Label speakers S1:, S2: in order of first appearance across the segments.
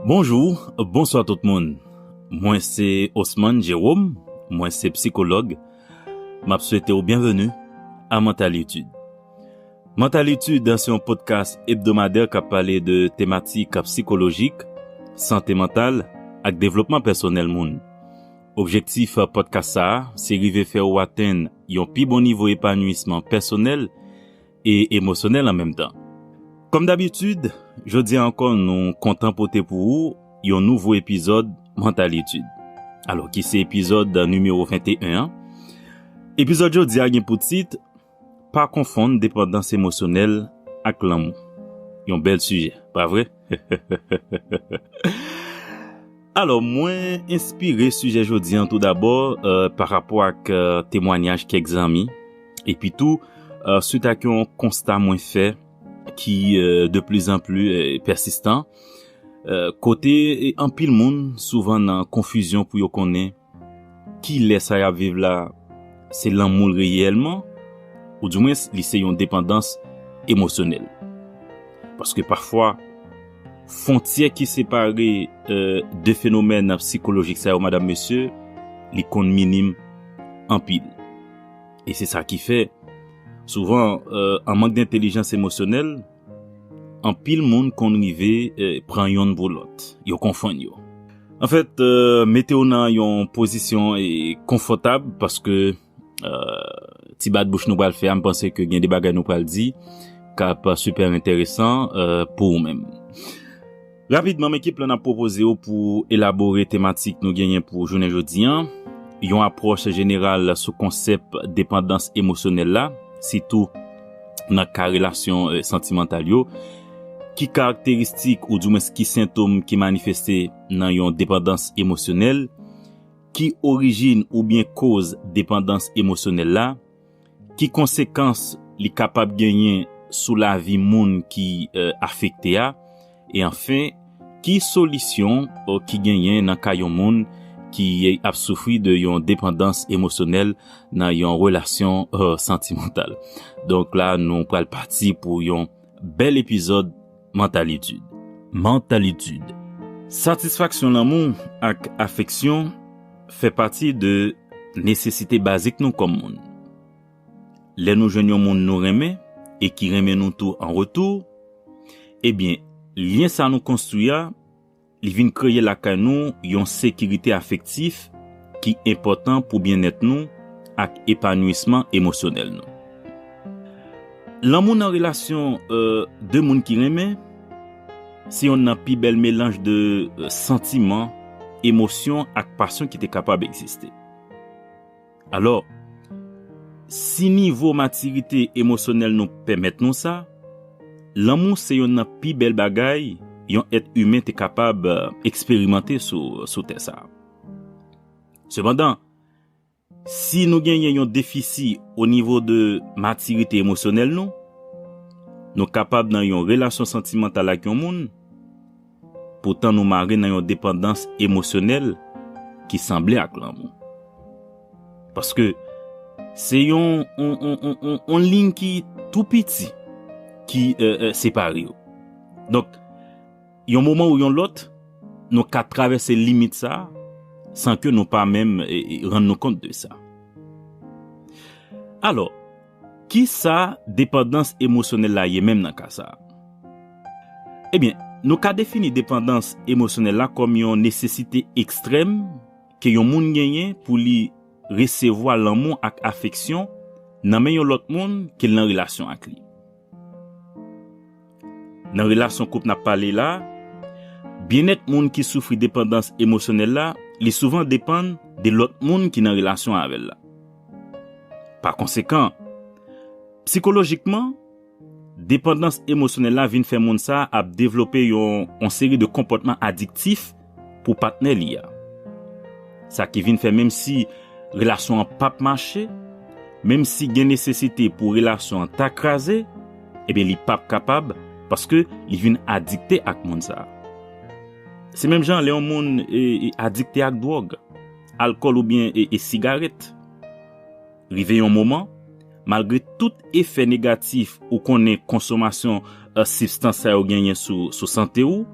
S1: Bonjou, bonswa tout moun. Mwen se Osman Jerome, mwen se psikològ. M ap swete w byenveni a Mental Etude. Mental Etude se yon podkas ebdomadè k ap pale de tematik psikolojik, sante mantal ak devlopman pèsonèl moun. Objektif podkas sa a se rive fè ou atenn yon pi bon nivo epanuyisman pèsonèl e emosyonèl an menm tan. Kòm dabitid, jodi a ankò nou kontan pote pou ou yon nouvo epizòd Mantalitid, alò ki se epizòd nimewo 21 an. Epizòd jodi a gen pou tit, Pa konfonn depandans emosyonèl ak lanmou. Yon bèl sijè, pa vre? Alò, mwen enspire sijè jodi an toudabò pa rapò ak temwanyaj kèk zanmi, epi tou suit ak yon konsta mwen fè ki de pli zan pli pèsistan, kote anpil moun souvan nan konfizyon pou yo konnen Ki lè sa y ap viv la se lanmou l reyèlman, ou di mwens li se yon depandans emosyonèl. Paske pafwa, fontyè ki separe de fenomèn sikolojik sa yo madam mesye, li konn minim anpil. E se sa ki fè, souvan, an mank dentelijans emosyonèl, Anpil moun konn rive pran yonn pou lòt, yo konfonn yo. Anfèt, mete w nan yon pozisyon konfòtab paske ti bat bouch nou pral fè a, m panse ke gen de bagay nou pral di k ap sipè enteresan pou ou menm. Rapidman, men ki plan n ap pwopoze yo pou elabore tematik nou genyen pou jounen jodi an, yon apwòch jeneral sou konsèp depandans emosyonèl la, sitou nan ka relasyon santimantal yo, ki karakteristik oudiwens ki sentom ki manifeste nan yon depandans emosyonèl, ki orijin oubyen koz depandans emosyonèl la, Ki konsekans li kapab genyen sou lavi moun ki afekte a? E anfen, ki solisyon ki genyen nan ka yon moun ki ap soufri de yon depandans emosyonèl nan yon relasyon santimantal? Donk la nou pral pati pou yon bèl epizòd. Mantalitid. Mantalitid. Satisfaksyon lanmou ak afeksyon fè pati de nesesite bazik nou kòm moun. Lè nou jwenn yon moun nou renmen e ki renmen nou tou an retou, ebyen lyen sa nou konstwi a, Li vin kreye lakay nou yon sekirite afektif ki enpòtan pou byennèt nou ak epanouisman emosyonèl nou. Lanmou nan relasyon de moun ki renmen se yonn nan pi bèl melanj de santiman, emosyon ak pasyon ki te kapab egziste. Alò, si nivo matirite emosyonèl nou pèmèt nou sa, lanmou se yonn nan pi bèl bagay yon èt imen te kapab eksperimante sou tè sa a. Sepandan, si nou genyen yon defisi onivo de matirite emosyonèl nou, nou kapab nan yon relasyon santimantal ak yon moun, poutan nou mare nan yon depandans emosyonèl ki sanble ak lanmou. Paske, se yon yon liy ki tou piti ki separe yo. Donk, yon moman ou yon lòt, nou ka travèse limit sa a, san ke nou pa menm rann nou kont de sa. Alò, Ki sa depandans emosyonèl la ye menm nan ka sa a? Ebyen, nou ka defini depandans emosyonèl la kòm yon nesesite ekstrèm ke yon moun genyen pou li resevwa lanmou ak afeksyon nan men yon lòt moun ke l nan relasyon ak li. Nan relasyon koup nap pale la, byennèt moun ki soufri depandans emosyonèl la, li souvan depann de lòt moun ki nan relasyon avè l la. Pa konsekan, psikolojikman, depandans emosyonèl la vin fè moun sa ap devlope yon seri de konpòtman adiktif, pou patnè li a. Sa ki vin fè menmsi relasyon an pap mache, menmsi gen nesesite pou relasyon an ta kraze, ebyen li pap kapab paske li vin adikte ak moun sa. Se menm jan lè yon moun adikte ak dwòg, alkòl oubyen sigarèt. Rive yon moman, malgre tout efè negatif ou konnen konsomasyon sibstans sa yo genyen sou sante ou,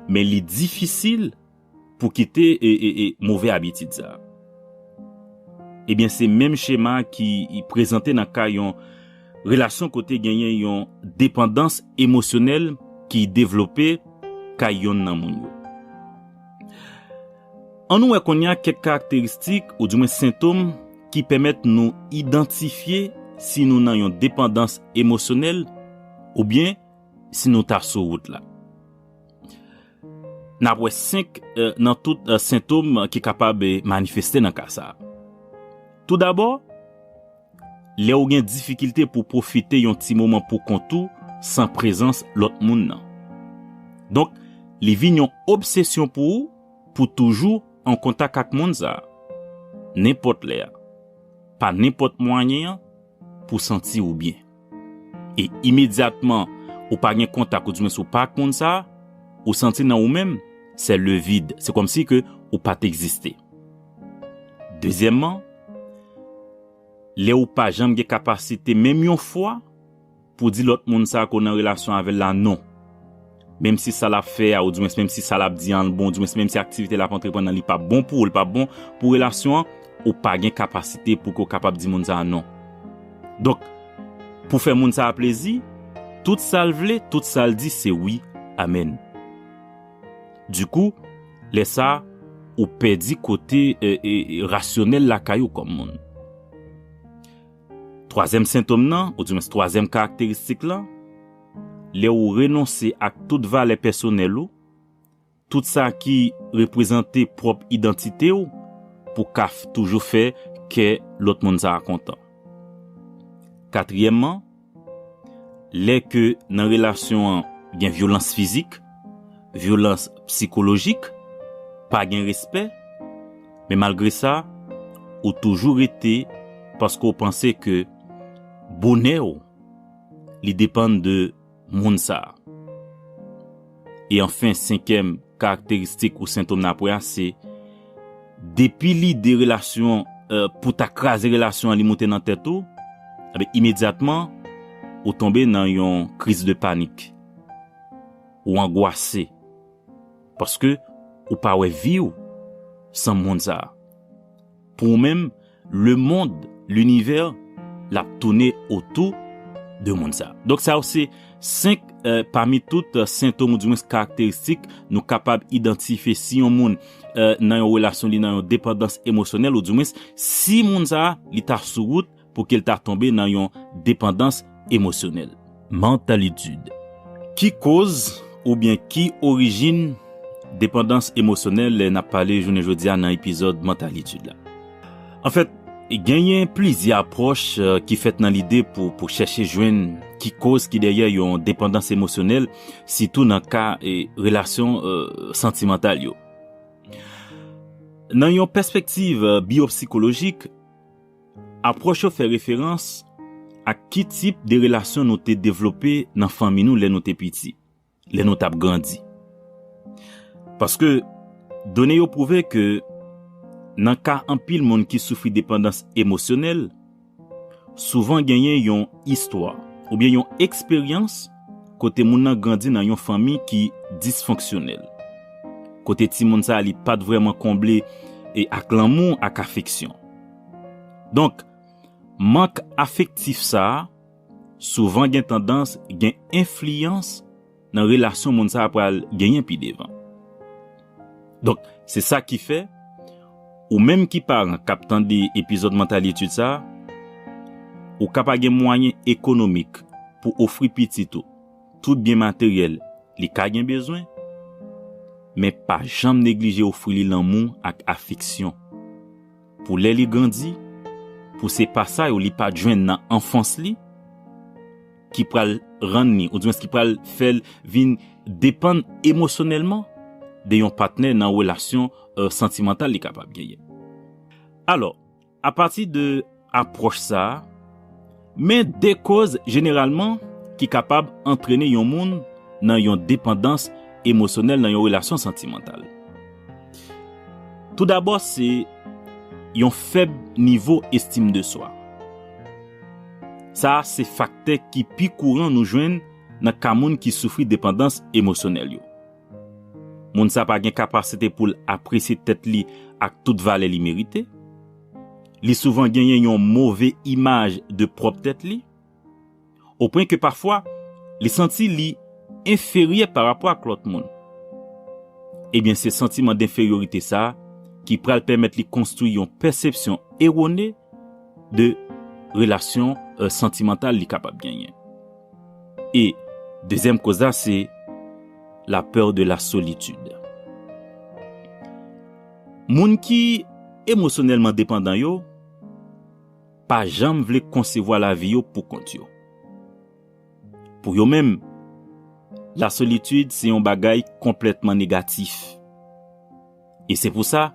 S1: Men li difisil pou kite move abitid sa. Ebyen se menm chema ki prezante nan ka yon relasyon kote genyen yon depandans emosyonèl ki devlope kay yonn nan moun yo. An nou wè kounye a kèk karakteristik ou di mwen sentom ki pèmèt nou idantifye si nou nan yon depandans emosyonèl oubyen si nou ta sou wout la. N ap wè 5 nan tout sentom ki kapab manifeste nan ka sa. Tou dabò, lè ou gen difikilte pou pwofite yon ti moman pou kont ou san prezans lòt moun nan. Donk, li vin yon obsesyon pou ou pou toujou an kontak ak moun sa, nenpòt lè, pa nenpòt mwayen, pou w santi ou byen. E imedyatman ou pa gen kontak oudimwens ou pa ak moun sa, ou santi nan ou menm se le vide, se kòmsi ke ou pa t egziste. Dezyèmman, lè ou pa janm gen kapasite menm yon fwa, Pou di lòt moun sa ke w nan relasyon avè l la non. Menm si sa l ap fè a oudiwens menm si sa l ap di an l bon oudiwens menm si aktivite l ap antreprann nan li pa bon pou ou li pa bon pou relasyon an, ou pa gen kapasite pou ke w kapab di moun sa a non. Donk, pou fè moun sa a plezi, tout sa l vle, tout sa l di se wi, amèn. Dikou, lè sa a, ou pèdi kote rasyonèl lakay ou kòm moun. Twazyèm sentom nan, oudimwens twazyèm karakteristik lan, lè ou renonse ak tout valè pèsonèl ou, tout sa ki reprezante pwòp idantite ou pou ka toujou fè kè lòt moun sa a kontan. Katriyèman, lè ke nan relasyon an gen vyolans fizik, vyolans psikolojik, pa gen respè, Men malgre sa, ou toujou rete paske ou panse ke bonè ou li depann de moun sa a. E anfen senkyèm karakteristik ou sentom nan apre a se, depi lide relasyon pou ta kraze relasyon an li moute nan tèt ou, enben imedyatman ou tonbe nan yon kriz de panik. Ou angwase. Paske ou pa wè vi ou san mond sa a. Pou ou menm, lemond, linivè, l ap toune otou de mond sa a. Donk sa yo se 5 pami tout sentom ou di mwens karakteristik nou kapab idantife si yon moun nan yon relasyon li nan yon depandans emosyonèl ou di mwens si moun sa a li ta sou wout pou ke l ta tonbe nan yon depandans emosyonèl. Mantalitid. Ki koz oubyen ki orijin depandans emosyonèl n ap pale jounen jodi a nan epizòd Mantalitid la? Anfèt, genyen plizyè apwòch ki fèt nan lide pou chèche jwenn ki koz ki dèyè yon depandans emosyonèl, sitou nan ka relasyon santimantal yo. Nan yon pèspektiv biyopsikolojik. Apwòch yo fè referans ak ki tip de relasyon nou te devlope nan fanmi nou lè nou te piti, lè nou t ap grandi. Paske, done yo pwouve ke nan ka anpil moun ki soufri depandans emosyonèl, souvan genyen yon istwa oubyen yon eksperyans kote moun nan grandi nan yon fanmi ki disfonksyonèl, kote timoun sa a li pa t vrèman konble ak lanmou ak afeksyon. Donk, mank afektif sa a souvan gen tandans gen enfliyans nan relasyon moun sa a pral genyen pi devan. Donk, se sa ki fè, ou menm ki paran k ap tande epizòd Mantalitude sa a, ou ka pa gen mwayen ekonomik pou ofri pitit ou tout byen materyèl li ka gen bezwen, men pa janm neglije ofri li lanmou ak afeksyon. Pou lè li grandi, pou se pa sa yo li pa t jwenn nan anfans li ki pral rann li oudiwens ki pral fè l vin depann emosyonèlman de yon patnè nan relasyon santimantal li kapab genyen. Alò, apati de apwòch sa a, Men de koz jeneralman ki kapab antrene yon moun nan yon depandans emosyonèl nan yon relasyon santimantal. Toudabò se yon fèb nivo estim de swa. Sa a se faktè ki pi kouran nou jwenn nan ka moun ki soufri depandans emosyonèl yo. Moun sa pa gen kapasite pou l apresye tèt li ak tout valè li merite. Li souvan genyen yon move imaj de pwòp tèt li, opwen ke pafwa li santi li enferyè parapò ak lòt moun. Ebyen se santiman denferyorite sa a ki pral pèmèt li konstwi yon pèsepsyon erone de relasyon santimantal li kapab genyen. E dezyèm koz la se la peur de la solitude. Moun ki emosyonèlman depandan yo pa janm vle konsevwa lavi yo poukont yo. Pou yo menm, lasolitid se yon bagay konplètman negatif. E se pou sa,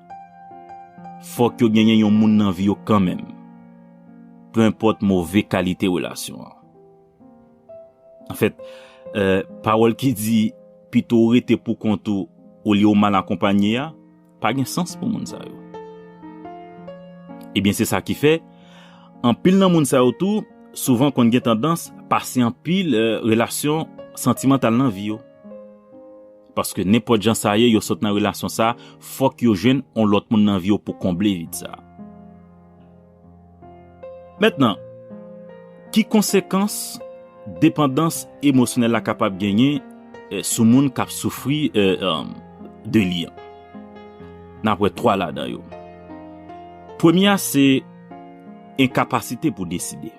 S1: fòk yo genyen yon moun nan vi yo kanmenm, penpòt move kalite relasyon an. Anfèt, pawòl ki di, Pito w rete poukont ou olye w mal akonpanye a, pa gen sans pou moun sa yo. Ebyen, se sa ki fè, anpil nan moun sa yo tou souvan konn gen tandans pase anpil relasyon santimantal nan vi yo. Paske nenpòt jan sa ye, yo sot nan relasyon sa a, fòk yo jwenn yon lòt moun nan vi yo pou konble vid sa a. Mentnan, ki konsekans depandans emosyonèl la kapab genyen sou moun k ap soufri de li an? N ap wè twa ladan yo. Premye a se enkapasite pou deside.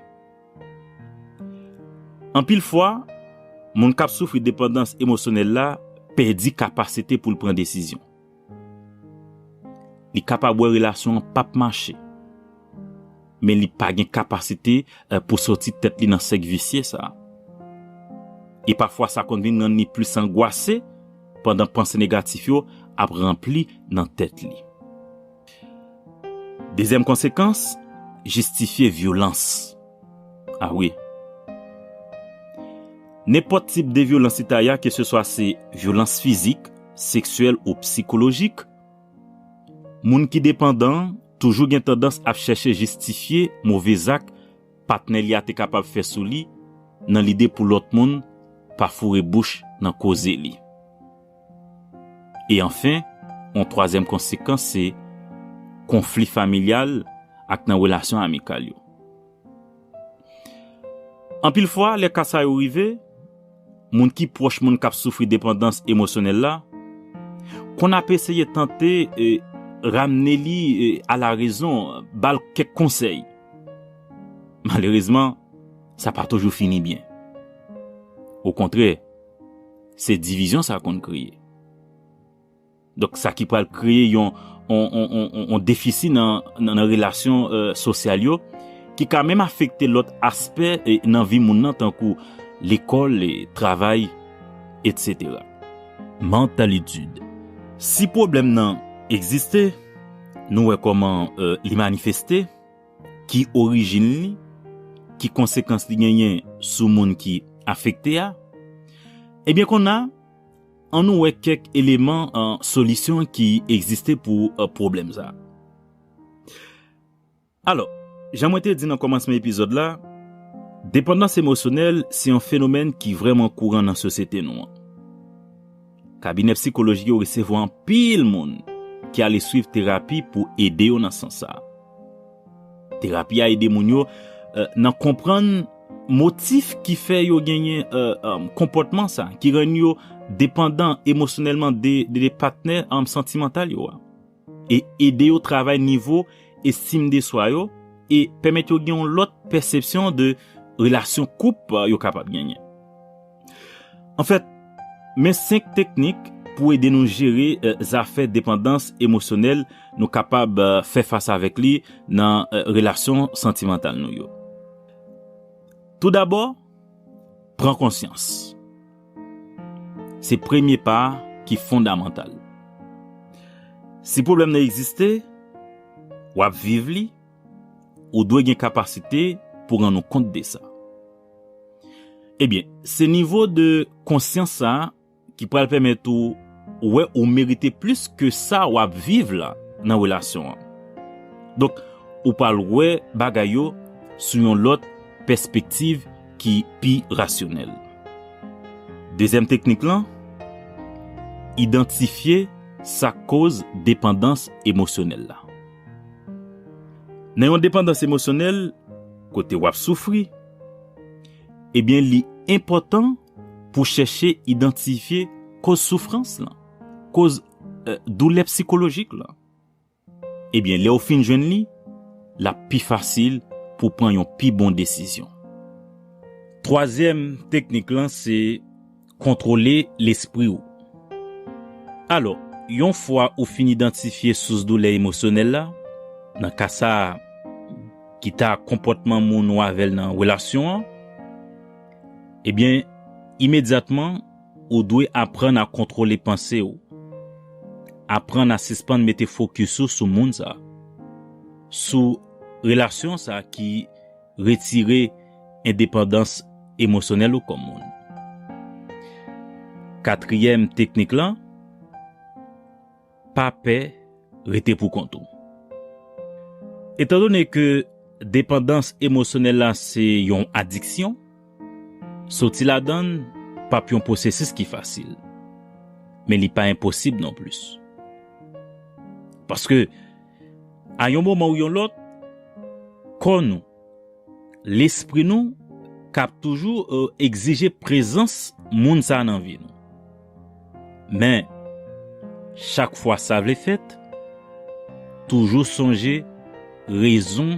S1: Anpil fwa, moun k ap soufri depandans emosyonèl la pèdi kapasite pou l pran desizyon. Li kapab wè relasyon an pap mache, men li pa gen kapasite pou sòti tèt li nan sèk visye sa. E pafwa sa konn vin rann li plis angwase pandan panse negatif yo ap ranpli nan tèt li. Dezyèm konsekans, jistifye vyolans. A wi. Nenpòt tip de vyolans leta ya keseswa se vyolans fizik, seksyèl ou psikolojik, moun ki depandan toujou gen tandans ap chèche jistifye move zak patnè li a te kapab fè sou li nan lide pou lòt moun pa foure bouch nan koze li. E anfen, yon twazyèm konsekans se konfli familyal ak nan relasyon amikal yo. Anpil fwa, lè ka sa yo rive, moun ki pwòch moun k ap soufri depandans emosyonèl la konn ap eseye tante ramne li alarezon, ba l kèk konsèy. Malerezman, sa pa toujou fini byen. Okontrè! Se divizyon sa konn kreye. Donk sa ki pral kreye yon yon defisi nan relasyon sosyal yo ki ka menm afekte lòt aspè nan vi moun nan tankou lekòl, travay, etsetera. Mantalitid. Si pwoblèm nan egziste, nou wè kòman li manifeste. ki orijin li, ki konsekans li genyen sou moun ki afekte a, ebyen konna an nou wè kèk eleman solisyon ki egziste pou pwoblèm sa. Alò, jan mwen te di nan kòmansman epizòd la, depandans emosyonèl se yon fenomèn ki vrèman kouran nan sosyete nou an. Kabinè psikolojik yo resevwa anpil moun ki ale swiv terapi pou ede yo nan sans sa a. Terapi a ede moun yo nan konprann motif ki fè yo genyen konpòtman sa ki rann yo depandan emosyonèlman de patnè santimantal yo a. e ede yo travay nivo estim de swa yo e pèmèt yo gen yon lòt pèsepsyon de relasyon koup yo kapab genyen. Anfèt, men senk teknik pou ede nou jere zafè depandans emosyonèl nou kapab fè fas avèk li nan relasyon santimantal nou yo. Toudabò, pran konsyans. Se premye pa a ki fondamantal. Si pwoblèm nan egziste, w ap viv li, ou dwe gen kapasite pou rann ou kont de sa. Ebyen, se nivo de konsyans sa a ki pral pèmèt ou wè ou merite plis ke sa w ap viv la nan relasyon an. Donk, ou pral wè bagay yo sou yon lòt pèspektiv. ki pi rasyonèl. Dezyèm teknik lan, idantifye sa k koz depandans emosyonèl la. Nan yon depandans emosyonèl kote w ap soufri, ebyen li enpòtan pou w chèche idantifye koz soufrans lan, koz doulè psikolojik lan. Ebyen lè ou fin jwenn li, l ap pi fasil pou w pran yon pi bon desizyon. Twazyèm teknik lan se kontwole lespri ou. Alò, yon fwa ou fin idantifye sous doulè emosyonèl la, nan ka sa a, ki ta konpòtman moun ou avè l nan relasyon an, ebyen imedyatman, Ou dwe aprann a kontwole panse ou. Aprann a sispann mete fokis ou sou moun sa. Sou relasyon sa ki retire endepandans emosyonèl ou kòm moun. Katriyèm teknik lan. Pa pè rete pou kont ou. Etandone ke depandans emosyonèl la se yon adiksyon, soti ladan l p ap yon pwosesis ki fasil, men li pa enposib non plis. Paske, a yon moman ou yon lòt, kò nou, lespri nou k ap toujou egzije prezans moun sa a nan vi nou. Men, chak fwa sa vle fèt, toujou sonje rezon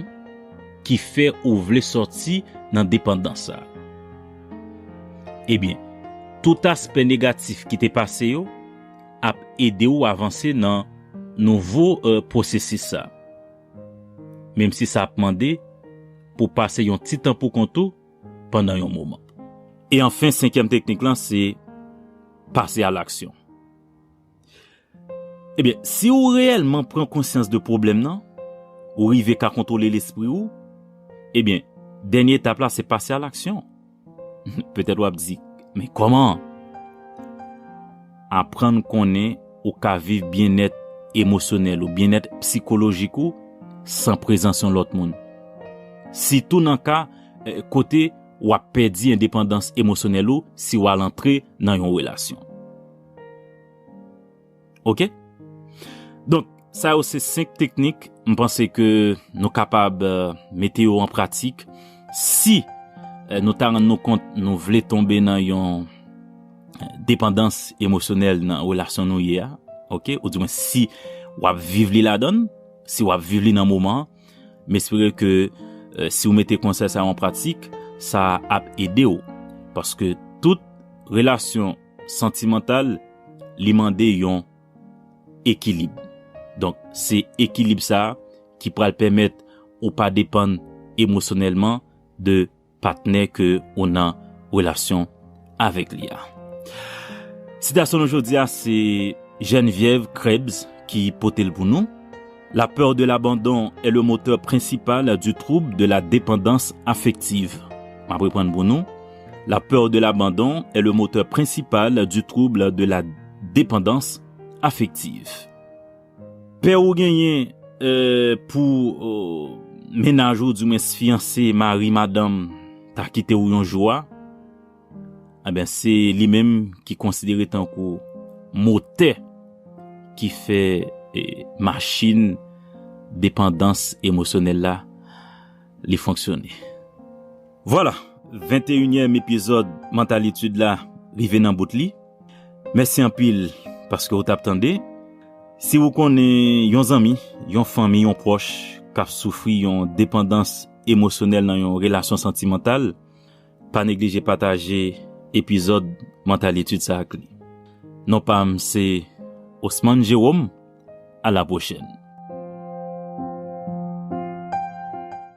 S1: ki fè ou vle sòti nan depandans sa a. Ebyen, tout aspè negatif ki te pase yo ap ede ou avanse nan nouvo pwosesis sa a. menmsi sa ap mande pou w pase yon ti tan poukont ou pandan yon moman. E anfen, senkyèm teknik lan se pase alaksyon. Ebyen, si ou reyèlman pran konsyans de pwoblèm nan, ou rive ka kontwole lespri ou, ebyen, dènye etap la se pase alaksyon. Petèt w ap di, Men kòman? Aprann konnen ou ka viv byennèt emosyonèl ou, byennèt psikolojik ou, san prezans yon lòt moun. Sitou nan ka kote w ap pèdi endepandans emosyonèl ou si w al antre nan yon relasyon. Ok Donk sa yo se 5 teknik m panse ke nou kapab mete yo an pratik si nou ta rann nou kont nou vle tonbe nan yon depandans emosyonèl nan relasyon nou ye a ok ou di mwen si w ap viv li ladann si w ap viv li nan moman an m espere ke si w mete konsèy sa yo an pratik sa ap ede w paske tout relasyon santimantal, li mande yon ekilib. Donk, se ekilib sa a ki pral pèmèt ou pa depann emosyonèlman de patnè ke ou nan relasyon avèk li a. Sitasyon nou jodi a se Geneviève Krebs ki pote l pou nou. La peur de l'abandon est le moteur principal du trouble de la dépendance affective. M ap reprann pou nou, La peur de l'abandon est le moteur principal du trouble de la dépendance affective. Pè ou genyen pou mennaj ou, di mwens fyanse, mari, madanm, ta kite ou yon jou a, Enben, se li menm ki konsidere tankou motè ki fè machin depandans emosyonèl la li fonksyone. Vwala, venteyinyèm epizòd Mantalitude la rive nan bout li. Mèsi anpil paske ou t ap tande. Si ou konnen yon zanmi, yon fanmi, yon pwòch k ap soufri yon depandans emosyonèl nan yon relasyon santimantal, Pa neglije pataje epizòd Mantalitid sa ak li. Non pa m se Osman Jerome, a la pwochèn.